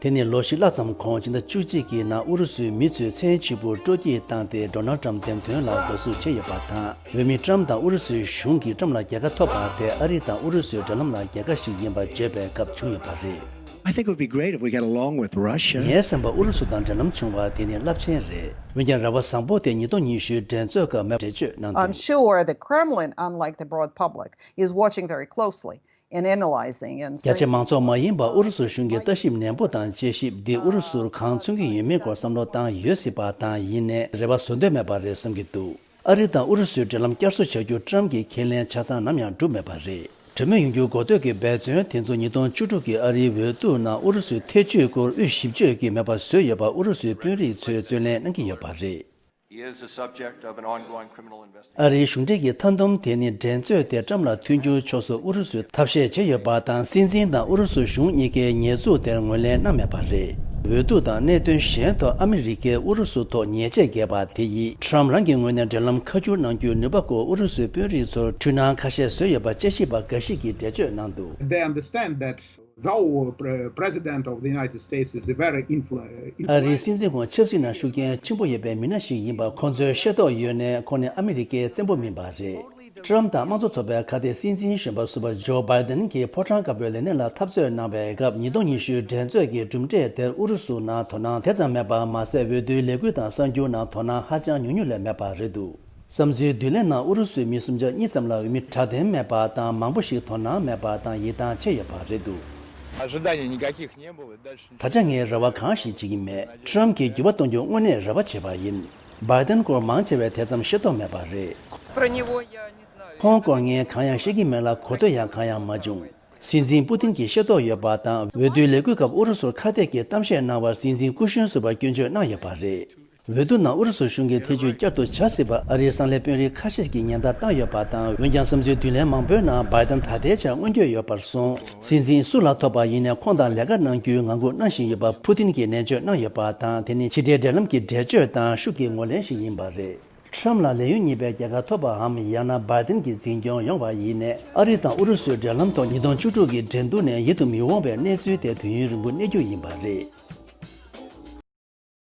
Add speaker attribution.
Speaker 1: དེ་ནི་ལོ་བཞི་ལྷག་ཙམ་གོང་སྤྱི་ཟླ་བཅུ་གཅིག་གི་ནང་ཨུ་རུ་སུའི་མི་ཚོས་མཚན་གཅིག་པུར་སྤྲོ་སྐྱིད་བཏང་སྟེ Donald Trump འདེམས་ཐོན་ལ་འགོ་ཚུགས་བྱས་ཡོད་པ་དང་འོས་མི Trump དང་ཨུ་རུ་སུའི་གཞུང་གིས Trump ལ་རྒྱལ་ཁ་ཐོབ་པ་དེ་ཨ་རི་དང་ཨུ་རུ་སུའི་འབྲེལ་ལམ་ལ་རྒྱལ་ཁ་ཞིག་ཡིན་པ་བརྗོད་པའི་སྐབས་བྱུང་ཡོད་པ་རེད།
Speaker 2: ངའི་སེམས་པར་ཨུ་རུ་སུ་དང་
Speaker 1: འབྲེལ་ལམ་བྱུང་བ་དེ་ནི་རླབས་ཆེན་རེད། འོན་ཀྱང་ར་བ་བཟང་པོ་དེ་ཉིས་སྟོང་ཉི་ཤུའི་འགྲན་
Speaker 3: རྩོད་སྐབས་མེབ་འགྲེལ་བརྗོད་གནང་དོན། རྒྱ་ཆེ་མང་ཚོགས་མ་ཡིན་པར་
Speaker 1: ཨུ་རུ་སུ་གཞུང་གིས་ལྟ་ཞིབ་ནན་པོ་དང་དཔྱད་ཞིབ་འདི་ཨུ་རུ་སུར་གང་མཚོན་གྱི་ཡོད་མེད་སྐོར་བསམ་བློ་བཏང་ཡོད་སྲིད་པ་དང་ཡིན་ནས་རེ་བ་བཟོ་འདོད་མེད་པ་རེད་བསམ་གྱི་འདུག་ཨ་རི་དང་ཨུ་རུ་སུའི་འབྲེལ་ལམ་བསྐྱར་གསོ་བྱ་རྒྱུར་ཀྲམ་གྱིས་ཁས་ལེན་ཆ་ཚང་ནམ་ཡང་བསྒྲུབས་མེད་པ་རེད། གྲོས་མོལ་ཡོང་རྒྱུ་གོ་ཐོས་ཀྱི་འབད་བརྩོན་དེ་ཚོ་ཉིས་སྟོང་བཅུ་དྲུག་གི་ཨ་རིའི་འོས་བསྡུ་ནང་ཨུ་རུ་སུའི་ཐེ་བྱུས་སྐོར་དབུས་ཞིབ་གཅོད་ཀྱིས་མེད་པ་བཟོས་ཡོད་པ་ཨུ་རུ་སུའི་དཔོན་རིགས་ཚོས་རྩོད་ལེན་གནང་གི་ཡོད་པ་རེད།
Speaker 4: ཨ་རིའི་གཞུང་འབྲེལ་གྱི་མཐའ་
Speaker 1: འདོམས་དེ་ནི་འགྲན་རྩོད་དེ་ཀྲམ་ལ་མཐུན་འགྱུར་ཕྱོགས་སུ་ཨུ་རུ་སུས་ཐབས་ཤེས་བྱས་ཡོད་པ་དང་སྲིད་འཛིན་དང་ཨུ་རུ་སུ་གཞུང་གཉིས་ཀའི་ཉེས་འཛུགས་དེར་ངོས་ལེན་གནང་མེད་པ་རེད། འོས་བསྡུ་དང་གནད་དོན་གཞན་ཐོག་ཨ་མི་རི་ཀས་ཨུ་རུ་སུ་ཐོག་ཉེས་ཆད་བརྒལ་པ་དེ་ཡིས་ཀྲམ་རང་གི་ངོས་ནས་འབྲེལ་ལམ་ཁ་བསྒྱུར་གནང་རྒྱུའི་ནུས་པ་སྐོར་ཨུ་རུ་སུའི་དཔོན་རིགས་ཚོར་འཁྲུལ་སྣང་ཁ་ཤས་བཟོས་ཡོད་པ་དཔྱད་ཞིབ་པ་འགའ་ཞིག་གིས་འགྲེལ་བརྗོད་གནང་འདུག།
Speaker 5: ཨ་རིའི་སྲིད་
Speaker 1: འཛིན་ཁོང་ཆབ་སྲིད་ནང་ཤུགས་རྐྱེན་ཆེན་པོ་ཡོད་པའི་མི་སྣ་ཞིག་ཡིན་པ་ཁོང་ཚོས་ཤེས་རྟོགས་ཡོད་ནས་ཁོང་ནི་ཨ་མི་རི་ཀའི་བཙན་པོ་མིན་པ་རེད། ཀྲུའམ་དང་དམངས་གཙོ་ཚོགས་པའི་ཁ་གཏད་སྲིད་འཛིན་གཞོན་པ་ཟུར་པ་ཇོ་སྦའི་ཏན་གྱིས་ཕོ་བྲང་དཀར་པོའི་ལས་གནས་ལ་འཐབ་རྩོད་གནང་བའི་སྐབས་ཉིས་སྟོང་ཉི་ཤུའི་འགྲན་རྩོད་ཀྱི་གྲུབ་འབྲས་དེར་ཨུ་རུ་སུ་ནང་དོ་སྣང་དེ་ཙམ་མེད་པ་མ་ཟད་འོས་བསྡུའི་ལས་འགུལ་དང་གསར་འགྱུར་ནང་དོ་སྣང་ཧ་ཅང་ཉུང་ཉུང་ལས་མེད་པ་རེད་འདུག། བསམ་ཚུལ་བསྡུ་ལེན་ནང་ཨུ་རུ་སུའི་མི་སུམ་ཆ་གཉིས་ཙམ་ལ་འོས་མི་དྲག་ལྡན་མེད་པ་དང་མང་པོ་ཞིག་དོ་སྣང་མེད་པ་དང་ཡིད་ཐང་ཆད་ཡོད་པ་རེད་འདུག།
Speaker 6: ད་ཆ་ངས་རེ་བ་གང་
Speaker 1: ཞིག་བྱེད་ཀྱི་མེད Trump གྱིས་འགྱུར་བ་གཏོང་རྒྱུ་དངོས་གནས་རེ་བ་བྱས་པ་ཡིན། Biden སྐོར་མང་ཆེ་བས་དེ་ཙམ་ཤེས་རྟོགས་མེད་པ་རེད།
Speaker 7: ཁོང་སྐོར་ངས་གང་ཡང་
Speaker 1: ཤེས་ཀྱི་མེད་ལ་གོ་ཐོས་ཡང་གང་ཡང་མ་བྱུང། སྲིད་འཛིན་པུ་ཏིན་གྱིས་ཤེས་རྟོགས་ཡོད་པ་དང་འོས་བསྡུའི་ལས་འགུལ་སྐབས་ཨུ་རུ་སུར་ཁ་གཏད་ཀྱི་གཏམ་བཤད་གནང་བར་སྲིད་འཛིན་སྐུ་གཞོན་ཟུར་བ་སྐྱོན་བརྗོད་གནང་ཡོད་པ་རེད། འོས་བསྡུ་ནང་ཨུ་རུ་སུ་གཞུང་གིས་ཐེ་བྱུས་བསྐྱར་དུ་བྱ་སྲིད་པ་ཨ་རིའི་གསང་ལས་དཔོན་རིགས་ཁ་ཤས་ཀྱིས་ཉེན་བརྡ་བཏང་ཡོད་པ་དང་འོན་ཀྱང་བསམ་ཚུལ་བསྡུ་ལེན་མང་པོའི་ནང་འབའི་ཏན་ད་ལྟའི་ཆར་མངོན་འགྱོད་ཡོད་པར་བཟུང། སྲིད་འཛིན་སུ་ལ་ཐོབ་པ་ཡིན་ནས་ཁོང་དང་ལས་ཀ་གནང་རྒྱུའི་ངང་སྒུག་གནང་བཞིན་ཡོད་པ་ཕུ་ཐིན་གྱིས་ནན་བརྗོད་གནང་ཡོད་པ་དང་དེ་ནི་ཕྱི་དགྲའི་འབྲེལ་ལམ་གྱི་འགྲེལ་བརྗོད་དང་ཤུགས་ཀྱི་ངོ་ལེན་ཞིག་ཡིན་པ་རེད། Trump ལ་ལས་ཡུན་གཉིས་པའི་རྒྱལ་ཁ་ཐོབ་པའམ་ཡང་ན་འབའི་ཏན་གྱི་འཛིན་སྐྱོང་ཡོང་བ་ཡིན་ནས་ཨ་རི་དང་ཨུ་རུ་སུའི་འབྲེལ་ལམ་ཐོག་ཉིས་སྟོང་བཅུ་དྲུག་གི་འགྲན་བསྡུར་ནས་ཡིད་དུ་མི་འོང་བའི་གནས་ཚུལ་དེ་དུས་ཡུན་རིང་པོ་གནས་རྒྱུ་ཡིན་པ་རེད།